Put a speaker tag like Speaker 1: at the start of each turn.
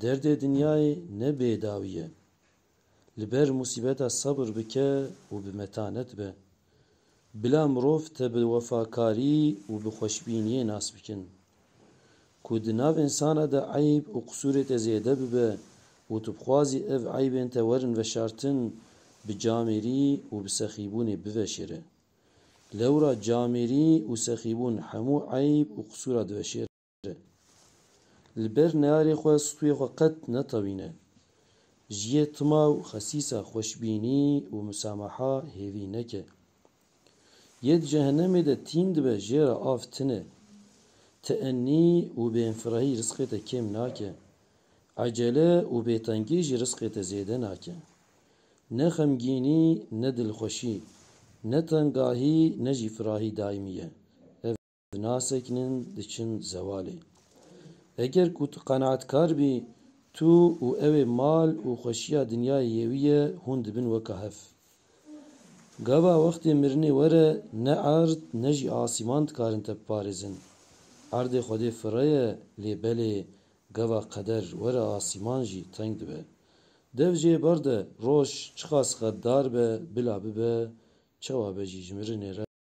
Speaker 1: Derdê dinyayê ne bêdawî ye. Li ber musîbeta sebir bike û bi metanet be. Bila mirov te bi wefakarî û bi xweşbîniyê nas bikin. Ku di nav însana de eyb û qisûrê te zêde bibe û tu bixwazî ev eybên te werin veşartin, bi camêrî û bi sexîbûnê biveşêre. Lewra camêrî û sexîbûn hemû eyb û qisûra diveşêrin. e. Li ber neyarê xwe stûyê xwe qet netewîne. Ji yê tima û xesîsa xweşbînî û musamaha hêvî neke. Yê di cehenemê de tîn dibe jê re av tine. Teenî û bêinfirahî risqê te kêm nake. Ecele û bêtengî jî risqê te zêde nake. Ne xemgînî ne dilxweşî, ne tengahî ne jî firahî daîmî ye. Dinasekinin diçin zewalê. Eger ku tu qenaetkar bî, tu û ew ê mal û xweşiya dinyayê yê wî ye, hûn dibin weka hev. Gava wextê mirinê were ne erd ne jî asîman dikarin te biparêzin. Erdê Xwedê firre ye lê belê gava qeder were asîman jî teng dibe. Dev jê berde roj çiqas xeddar be bila bibe çewa be jî ji mirinê re.